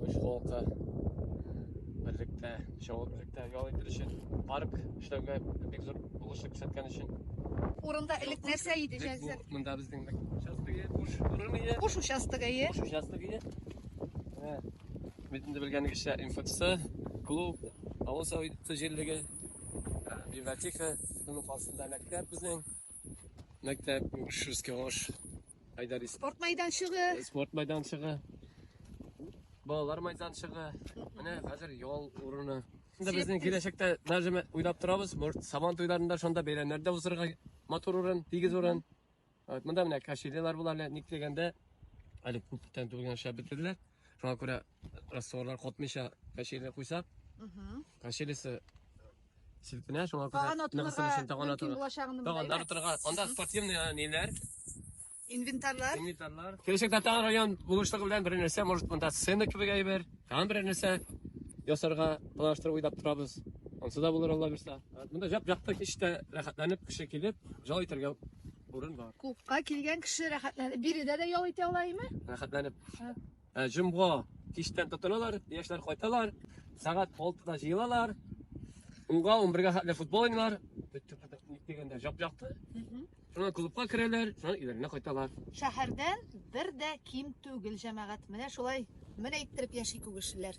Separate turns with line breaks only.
үз халкы берлектә чабып берлектә ял итер өчен парк эшләүгә бик зур булышлы күрсәткән өчен Урында
элек нәрсә иде җәзер? Монда безнең
участогы буш урын иде. Буш участогы иде. Буш
участогы иде.
Битендә белгәнегезчә МФЦ, клуб, авыл советы җирлеге, библиотека, шуның каршында мәктәп безнең. Мәктәп, Шушский Айдарис. Спорт майданчыгы.
Спорт майданчыгы.
Балалар майданчыгы. Менә хәзер ял урыны. Инде безнең киләчәктә даже уйлап торабыз, может, Сабан туйларында шунда бәйрәмнәр дә узырга матур урын, тигез урын. Вот, монда менә кашилелар була әле, ник дигәндә, әле күптән түгел генә эшләп бетерделәр. Шуңа күрә растворлар катмыйча качели куйсак, качелисы селкенә, шуңа күрә Таган атылырга ныгысын өчен таган мөмкин атылыр.
булачагын Таган беләбез.
атырга. Анда спортивный а, ниләр,
Инвентарьлар. инвентарьлар. Киләчәктә
тагын район булышлыгы белән бер нәрсә, может, монда сцена кебек әйбер, тагын бер нәрсә ясарга планлаштырып уйлап торабыз. Ансы да булыр Алла бирса. Монда җап-якты кичтә рәхәтләнеп кеше килеп, җал итәргә урын бар. Клубка килгән кеше
рәхәтләнеп биредә дә ял итә ала име? Рәхәтләнеп.
Ә, Җомга кичтән тотыналар, яшьләр кайталар, сәгать 6-да җыелалар. Унга, унбергә хәтле футбол уйнар, дигәндә жап-жапты. Шуннан клубка керәләр, шуннан өйләренә кайталар. Шәһәрдән
бер дә ким түгел җәмәгать. Менә шулай менә иттереп яши күгешлеләр.